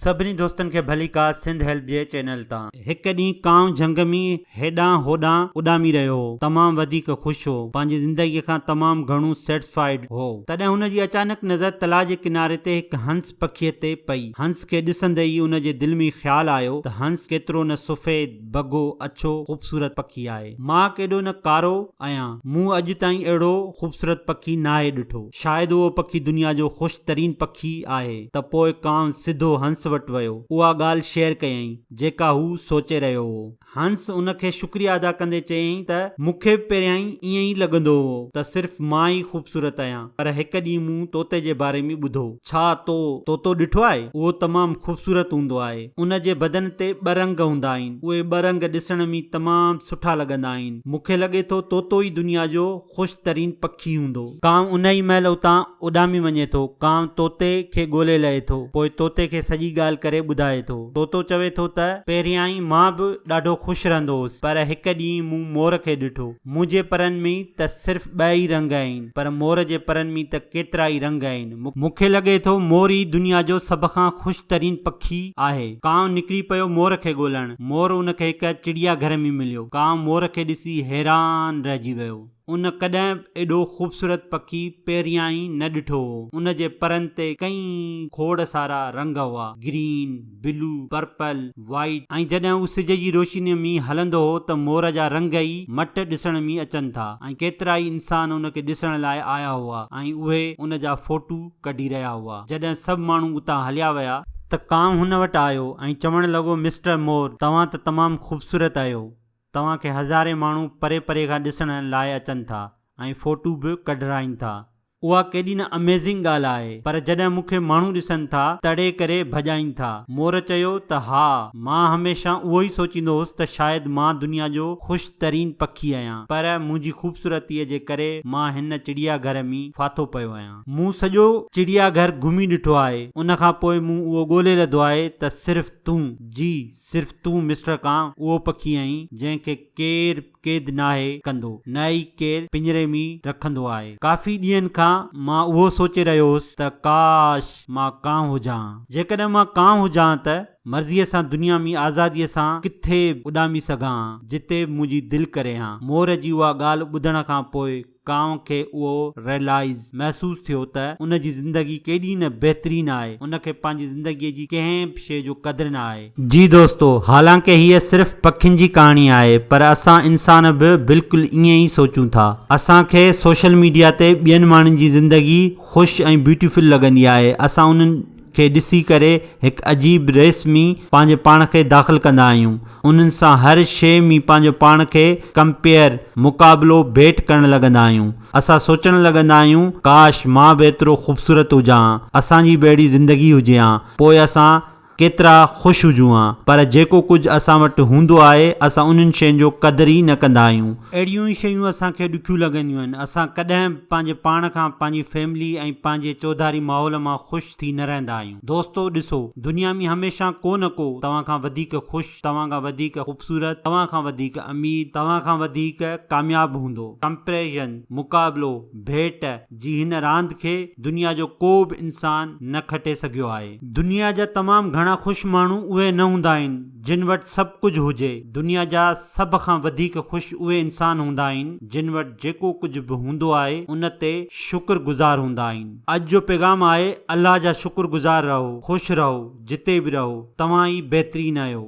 سڀني دوستن کي ڀليڪا سنڌ هيلپ جي چينل تان. هڪ ڏينهن ڪانء جهنگ ۾ هيڏانهن هوڏانهن اڏامي رهيو هو. تمام وڌيڪ خوش هو. پنهنجي زندگيء کان تمام گهڻو Satisfied هو. تڏهن هن جي اچانڪ نظر تلاء جي ڪناري تي هڪ هنس پکيء تي پئي. هنس کي ڏسندي ئي ان جي دل ۾ خيال آيو ته هنس ڪيترو نه سفيد، بگهو اڇو خوبصورت پکي آهي. مان ڪيڏو نه ڪارو آهيان. مون اڄ تائين اهڙو خوبصورت پکي ناهي ڏٺو. شايد اهو پکي دنيا جو خوش ترين پکي آهي. ته پوء ڪانء سڌو هنس وٽ ويو. اها ڳالهه شيئر ڪيائين، جيڪا هو سوچي رهيو هو. هنس ان کي شڪريه ادا ڪندي چيائين ته مون کي به پهريائين ائين ئي لڳندو هو ته صرف مان ئي خوبصورت آهيان پر هڪ ڏينهن مون طوطي جي باري ۾ ٻڌو. ڇا تو طوطو ڏٺو آهي؟ اهو تمام خوبصورت هوندو آهي. ان جي بدن تي ٻه رنگ هوندا آهن. اهي ٻه رنگ ڏسڻ ۾ تمام سٺا لڳندا آهن. مون کي لڳي ٿو طوطو ئي دنيا جو خوش ترين پکي هوندو. ڪانء ان ئي مهل اتان اڏامي وڃي ٿو. ڪانء طوطي کي ڳولي لهي ٿو. پوء طوطي کي سڄي ڳالهه ڪري ٻڌائي ٿو. طوطو چوي ٿو ته، پهريائين مان به ڏاڍو خوش رهندو هوس، پر هڪ ڏينهن مون مور کي ڏٺو. مون جي پرن ۾ ته صرف ٻه ئي رنگ آهن، پر مور جي پرن ۾ ته ڪيترا ئي رنگ آهن. مون کي لڳي ٿو مور ئي دنيا جو سڀ کان خوش ترين پکي آهي. ڪانء نڪري پيو مور کي ڳولڻ. مور ان کي هڪ چڙيا گهر ۾ مليو. ڪانء مور کي ڏسي حيران رهجي ويو. ان ڪڏهن به ايڏو خوبصورت پکي پهريائين نه ڏٺو هو. ان جي پرن تي ڪئين کوڙ سارا رنگ هئا، گرين، بلو، پرپل، وائيٽ ۽ جڏهن هو سج جي روشنيء ۾ هلندو هو ته مور جا رنگ ئي مٽ ڏسڻ ۾ اچن ٿا ۽ ڪيترائي انسان ان کي ڏسڻ لاء آيا هئا ۽ اهي ان جا فوٽو ڪڍي رهيا هئا. جڏهن سڀ ماڻهو اتان هليا ويا. ته ڪانء هن وٽ آيو ۽ چوڻ لڳو مسٽر مور توهان ته تمام خوبصورت اهيو. توهان کي هزارين ماڻهو پري پري کان ڏسڻ لاء اچن ٿا ۽ فوٽو به ڪڍرائين ٿا. اها ڪيڏي نه اميزنگ ڳالهه آهي پر جڏهن مون کي ماڻهو ڏسن ٿا تڙي ڪري ڀڄائين ٿا. مور چيو ته ها مان هميشه اهو ئي سوچيندو هوس ته شايد مان دنيا جو خوش ترين پکي آهيان پر منهنجي خوبصورتي جي ڪري مان هن چڙيا گهر مين ڦاٿو پيو آهيان. مون سڄو چڙيا گهر گهمي ڏٺو آهي ان کان پوء مون اهو ڳولي لڌو آهي ته صرف تون جي صرف تون مسٽر ڪان اهو پکي آهين جنهن کي ڪير. قيد ناهي ڪندو، نه ئي ڪير پڃري ۾ رکندو آهي. ڪافي ڏينهن کان مان اهو سوچي رهيو هوس ته ڪاش مان ڪانء هجان ها. جيڪڏهن مان ڪانء هجان ها ته مرضيء سان دنيا ۾ آزاديء سان ڪٿي به اڏامي سگهان ها، جتي به منهنجي دل ڪري ها. مور جي اها ڳالهه ٻڌڻ کان پوء ڪانء کي اهو Realize، محسوس، ٿيو ته ان جي زندگي ڪيڏي نه بهترين آهي، ان کي پنهنجي زندگيء جي ڪنهن به شيء جو قدر نه آهي. جي دوستو، حالانڪه هيء صرف پکين جي ڪهاڻي آهي، پر اسان انسان به بلڪل ائين ئي سوچون ٿا. اسان کي سوشل ميڊيا تي ٻين ماڻهن جي زندگي خوش ۽ بيوٽيفل لڳندي آهي، اسان انهن. کي ڏسي ڪري هڪ عجيب ريس ۾ پنهنجي پاڻ کي داخل ڪندا آهيون. انهن سان هر شيء ۾ پنهنجو پاڻ کي ڪمپيئر، مقابلو، ڀيٽ ڪرڻ لڳندا آهيون. اسان سوچڻ لڳندا آهيون ڪاش مان به ايترو خوبصورت هجان ها، اسان جي به اهڙي زندگي هجي ها، پوء اسان ڪيترا خوش هجون ها. پر جيڪو ڪجهه اسان وٽ هوندو آهي، اسان انهن شين جو قدر ئي نه ڪندا آهيون. اهڙيون ئي شيون اسان کي ڏکيون لڳنديون آهن. اسان ڪڏهن به پنهنجي پاڻ کان، پنهنجي فيملي ۽ پنهنجي چوڌاري ماحول مان خوش ٿي نه رهندا آهيون. دوستو ڏسو، دنيا ۾ هميشه ڪو نه ڪو توهان کان وڌيڪ خوش، توهان کان وڌيڪ خوبصورت، توهان کان وڌيڪ امير، توهان کان وڌيڪ ڪامياب هوندو. ڪمپيريزن، مقابلو، ڀيٽ، جي هن راند کي دنيا جو ڪو به انسان نه کٽي سگهيو آهي. دنيا جا تمام گهڻا خوش ماڻهو اهي نه هوندا آهن، جن وٽ سڀ ڪجهه هجي. دنيا جا سڀ کان وڌيڪ خوش اهي انسان هوندا آهن جن وٽ جيڪو ڪجهه به هوندو آهي ان تي شڪر گذار هوندا آهن. اڄ جو پيغام آهي الله جا شڪر گذار رهو خوش رهو جتي به رهو توهان ئي بهترين اهيو.